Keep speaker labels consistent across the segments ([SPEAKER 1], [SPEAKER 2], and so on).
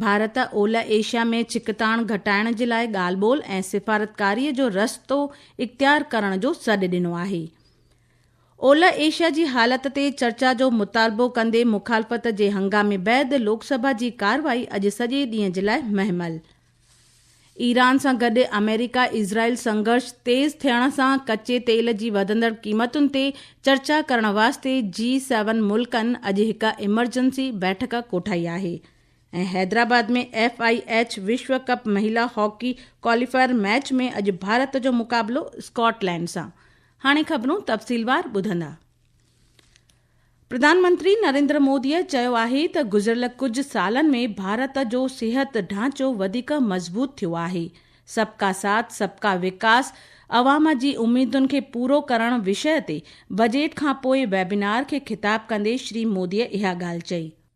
[SPEAKER 1] ڀارت اولهه ايشيا ۾ ڇڪتاڻ گهٽائڻ جي لاء ڳالهه ٻولهه ۽ سفارتڪاري جو رستو اختيار ڪرڻ جو سڏ ڏنو آهي. اولهه ايشيا جي حالت تي چرچا جو مطالبو ڪندي مخالفت جي هنگامي بعد لوڪ سڀا جي ڪارروائي اڄ سڄي ڏينهن جي لاء مهمل ايران سان گڏ آمريڪا اسرائيل سنگهرش تيز ٿيڻ سان ڪچي تيل جي وڌندڙ قيمتن تي چرچا ڪرڻ واسطي جي سيون ملڪن اڄ هڪ ايمرجنسي بيٺڪ ڪوٺائي آهي ۽ حيدرآباد ۾ ايف آء ايڇ وشو ڪپ مهيلا هاڪي ڪواليفائر ميچ ۾ اڄ ڀارت جو مقابلو اسڪاٽ لينڊ سان هاڻي خبرون تفصيلوار ٻڌندا پرڌان منتري نريندر موديء چيو آهي ته گذريل ڪجهه سالن ۾ ڀارت جو صحت ڍانچو وڌيڪ مضبوط ٿيو آهي، سب ڪا ساٿ سب ڪا وڪاس عوام جي اميدن کي پورو ڪرڻ وشيه تي بجيٽ کانپوء ويبنار کي خطاب ڪندي شري موديء اها ڳالهه چئي.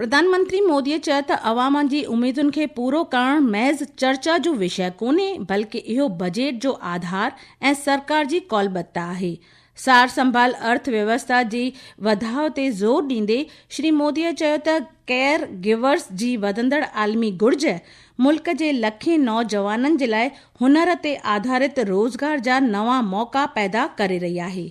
[SPEAKER 2] پرڌان منتري مودي
[SPEAKER 1] چيو ته عوام جي اميدن کي پورو ڪرڻ محض چرچا جو وشيه ڪونهي بلڪ اهو بجيٽ جو آڌار ۽ سرڪار جي ڪولبت آهي. سار سنڀال ارٿ ويوسٿا جي وڌاء تي زور ڏيندي شري مودي چيو ته ڪيئر گيورز جي وڌندڙ عالمي گهرج ملڪ جي لکين نوجوانن جي لاء هنر تي آڌارت روزگار جا نوان موقعا پيدا ڪري رهي آهي.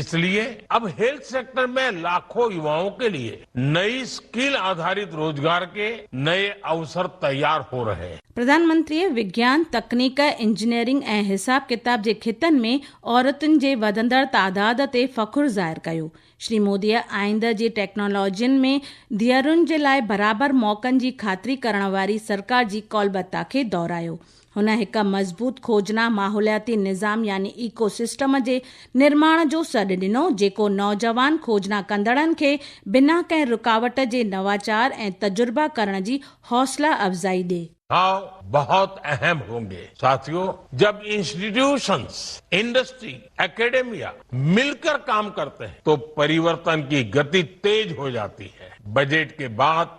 [SPEAKER 2] اس لئي اب هيلٿ سيڪٽر مين لاکو يوائون ڪي لئي نئي اسڪيل آڌارت روزگار ڪي نئي اوسر تيار هو رهي هين. پرڌانمنتريء وگيان،
[SPEAKER 1] تڪنيڪ، انجنيئرنگ ۽ حساب ڪتاب جي خطن ۾ عورتن جي وڌندڙ تعداد تي فخر ظاهر ڪيو. شري موديء آئنده جي ٽيڪنالاجين ۾ ڌيئرن جي لاء برابر موقعن جي خاطري ڪرڻ واري سرڪار جي قولبتا کي دهرايو هن هڪ مضبوط کوجنا ماحولياتي نظام يعني ايڪو سسٽم جي نرماڻ جو سڏ ڏنو، جيڪو نوجوان کوجنا ڪندڙن کي بنا ڪنهن رڪاوٽ جي نواچار ۽ تجربا ڪرڻ جي حوصلا افزائي ڏي. هاء بهت
[SPEAKER 2] اهم هونگي ساٿيو جب انسٽيٽيوشنس، انڊسٽري، اڪيڊميا مل ڪر ڪام ڪرتي هين تو پريورتن ڪي گتي تيز هو جاتي هي، بجيٽ ڪي بعد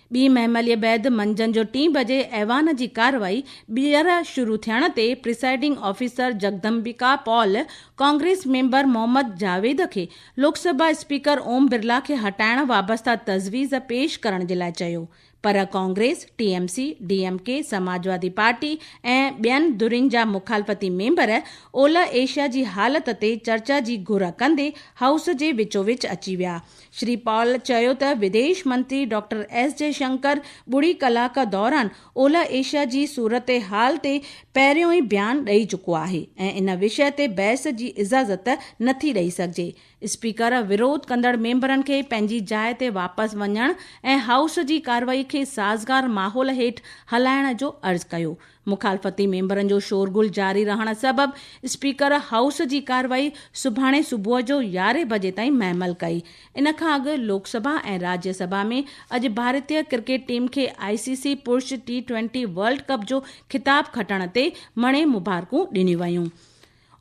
[SPEAKER 1] ٻي مهمليء بعد منجهند جو ٽين بجي ايوان جي ڪارروائي ٻيهر شروع ٿيڻ تي presiding officer Jagdambika Pal Congress member Mohammad Javed کي لوڪ سڀا اسپيڪر اوم برلا کي هٽائڻ وابسته تجويز پيش ڪرڻ جي لاء چيو پر Congress, T M C, D M K, Samajwadi party ۽ ٻين ڌرين جا مخالفتي ميمبر اولهه ايشيا جي حالت تي چرچا جي گهر ڪندي هائوس جي وچو وچ اچي ويا شري پال چيو ته وديش منتري ڊاڪٽر ايس جي شنڪر ٻڙي ڪلاڪ دوران اولهه ايشيا جي صورتحال تي پهريون ئي بيان ڏئي چڪو آهي ۽ ان وشي تي بحث جي اجازت نٿي ڏئي سگهجي، اسپيڪر وروڌ ڪندڙ ميمبرن کي پنهنجي جاء تي واپس وڃڻ ۽ هائوس جي ڪارروائي کي سازگار ماحول هيٺ هلائڻ جو عرض ڪيو، مخالفتي ميمبرن جو شورغل جاري رهڻ سبب اسپيڪر هائوس جي ڪارروائي سڀاڻي صبح جو يارهين بجي تائين مهمل ڪئي. ان کان اڳ لوڪ سڀا ۽ راجيه سڀا ۾ اڄ ڀارتيه ڪرڪيٽ ٽيم کي آء سي سي پرش ٽي ٽوئنٽي ورلڊ ڪپ جو خطاب کٽڻ تي مڻي مبارڪون ڏنيون ويون.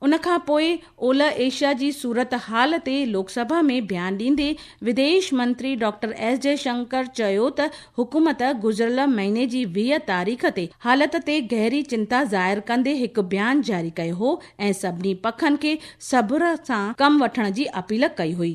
[SPEAKER 1] ان کان پوء اولهه ايشيا جي صورتحال تي لوڪ سڀا ۾ بيان ڏيندي وديش منتري ڊاڪٽر ايس جئي شنڪر چيو ته حڪومت گذريل مهيني جي ويهه تاريخ تي حالت تي گهري چنتا ظاهر ڪندي هڪ بيان جاري ڪيو هو ۽ سڀني پکن کي صبر سان ڪم وٺڻ جي اپيل ڪئي هئي.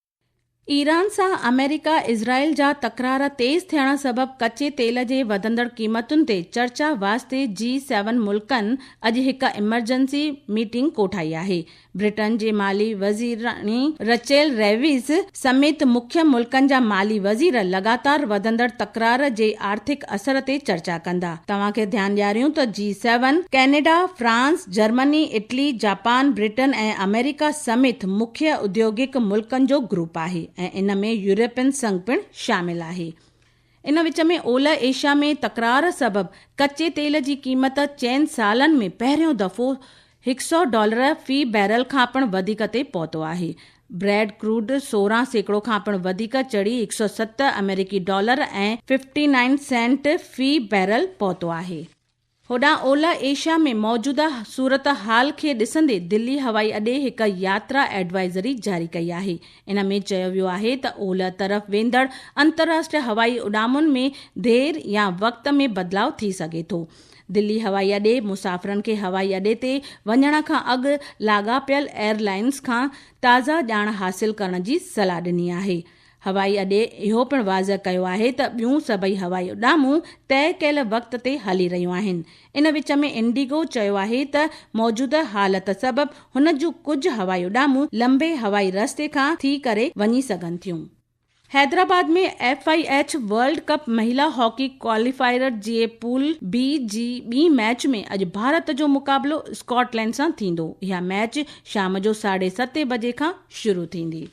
[SPEAKER 1] ايران سان آمريڪا اسرائيل جا تڪرار تيز ٿيڻ سبب ڪچي تيل جي وڌندڙ قيمتن تي چرچا واسطي جي سيون ملڪن اڄ هڪ ايمرجنسي ميٽنگ ڪوٺائي آهي. برٽن جي مالي وزيراڻي رچيل ريويز سميت مکيه ملڪن جا مالي وزير لڳاتار وڌندڙ تڪرار جي آرٿڪ اثر تي چرچا ڪندا. توهان کي ڌيان ڏياريون ته G seven, Canada, France, Germany, Italy, Japan, Britain ۽ America سميت مکيه اڌيوگڪ ملڪن جو گروپ آهي ۽ ان ۾ يورپين سنگ پڻ شامل آهي. ان وچ ۾ اولهه ايشيا ۾ تڪرار سبب ڪچي تيل جي قيمت چئن سالن ۾ پهريون دفعو هڪ سؤ ڊالر في بيرل کان پڻ وڌيڪ تي پهتو آهي. بريڊ ڪروڊ سورهن سيڪڙو کان پڻ وڌيڪ چڙهي هڪ سؤ ست آمريڪي ڊالر ۽ ففٽي نائن سينٽ في بيرل پهتو آهي. هوڏانهن اولهه ايشيا ۾ موجوده صورتحال کي ڏسندي دلي هوائي اڏي هڪ ياترا ايڊوائزري جاري ڪئي آهي. ان ۾ چيو ويو آهي ته اولهه طرف ويندڙ انترراشٽري هوائي اڏامن ۾ دير يا وقت ۾ بدلاء ٿي سگهي ٿو. دلي هوائي اڏي مسافرن کي هوائي اڏي تي وڃڻ کان اڳ لاڳاپيل ايئر لائينز کان تازه ڄاڻ حاصل ڪرڻ جي صلاح ڏني آهي. هوائي اڏي اهو پڻ واضح ڪيو آهي ته ٻيون سڀئي هوائي اڏامون طئي ڪيل وقت تي هلي رهيون آهن. ان وچ ۾ انڊيگو چيو آهي ته موجوده حالت سبب هن جون ڪجهه هوائي اڏامون لنبي هوائي رستي کان ٿي ڪري وڃي سگهن ٿيون. Hyderabad ۾ F I H world cup مهيلا هاڪي ڪواليفائر جي پول بي جي ٻي ميچ ۾ اڄ ڀارت جو مقابلو اسڪاٽ لينڊ سان ٿيندو، اها ميچ شام جو ساڍي ستين بجي کان شروع ٿيندي.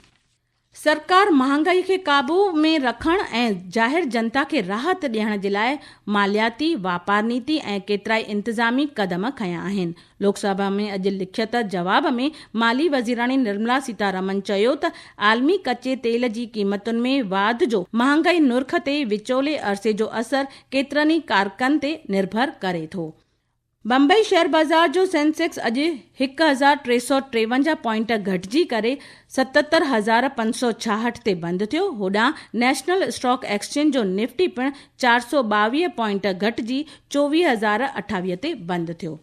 [SPEAKER 1] سرڪار مهانگائي کي قابو ۾ رکڻ ۽ ظاهر جنتا کي راحت ڏيڻ جي لاء مالياتي، واپار نيتي ۽ ڪيترائي انتظامي قدم کنيا آهن. لوڪ سڀا ۾ اڄ لکيت جواب ۾ مالي وزيراڻي نرملا سيتا رمن چيو ته عالمي ڪچي تيل جي قيمتن ۾ واڌ جو مهانگائي نرخ تي وچولي عرصي جو اثر ڪيترن ئي ڪارڪن تي نرڀر ڪري ٿو. بمبئي شيئر بازار جو سينسيڪس اڄ هڪ هزار ٽي سؤ ٽيونجاهه پوائنٽ گهٽجي ڪري ستهتر هزار پنج سؤ ڇاهٺ تي بند ٿيو، هوڏانهن نيشنل اسٽاڪ ايڪسچينج جو نفٽي پڻ چار سؤ ٻاويهه پوائنٽ گهٽجي چوويهه هزار اٺاويهه تي بند ٿيو.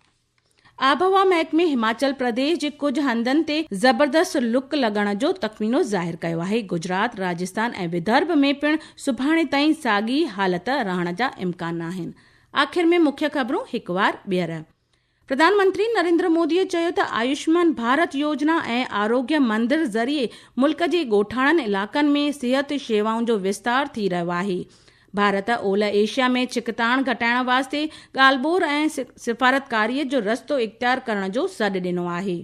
[SPEAKER 1] آبهوا محڪمي هماچل پرديش جي ڪجهه هنڌن تي زبردست لڪ لڳڻ جو تخمينو ظاهر ڪيو آهي، گجرات، راجستان ۽ ودرڀ ۾ پڻ سڀاڻي تائين ساڳي حالت رهڻ جا امڪان آهن. آخر ۾ مکيه خبرون هڪ وار ٻيهر. پرڌان منتري نريندر مودي چيو ته آيوشمان ڀارت يوجنا ۽ آروگيه مندر ذريعي ملڪ جي ڳوٺاڻن علائقن ۾ صحت شيوائن جو وستار ٿي رهيو آهي. ڀارت اولهه ايشيا ۾ ڇڪتاڻ گهٽائڻ واسطي ڳالهه ٻور ۽ سفارتڪاري جو رستو اختيار ڪرڻ جو سڏ ڏنو آهي.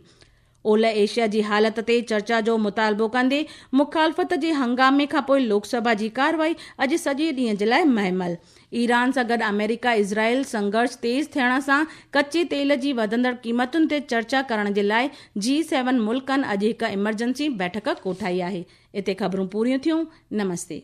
[SPEAKER 1] اولهه ايشيا جي حالت تي چرچا جو مطالبو ڪندي مخالفت جي هنگامي کانپوء لوڪ سڀا جي ڪارروائي اڄ سڄي ڏينهن جي لاء مهمل. ايران سان گڏ آمريڪا اسرائيل سنگهرش تيز ٿيڻ سان ڪچي تيل جي وڌندڙ قيمتن تي چرچا ڪرڻ جي لاء جي سيون ملڪن اڄ هڪ ايمرجنسي بيٺڪ ڪوٺائي آهي. اتي خبرون پوريون ٿيون. نمستي.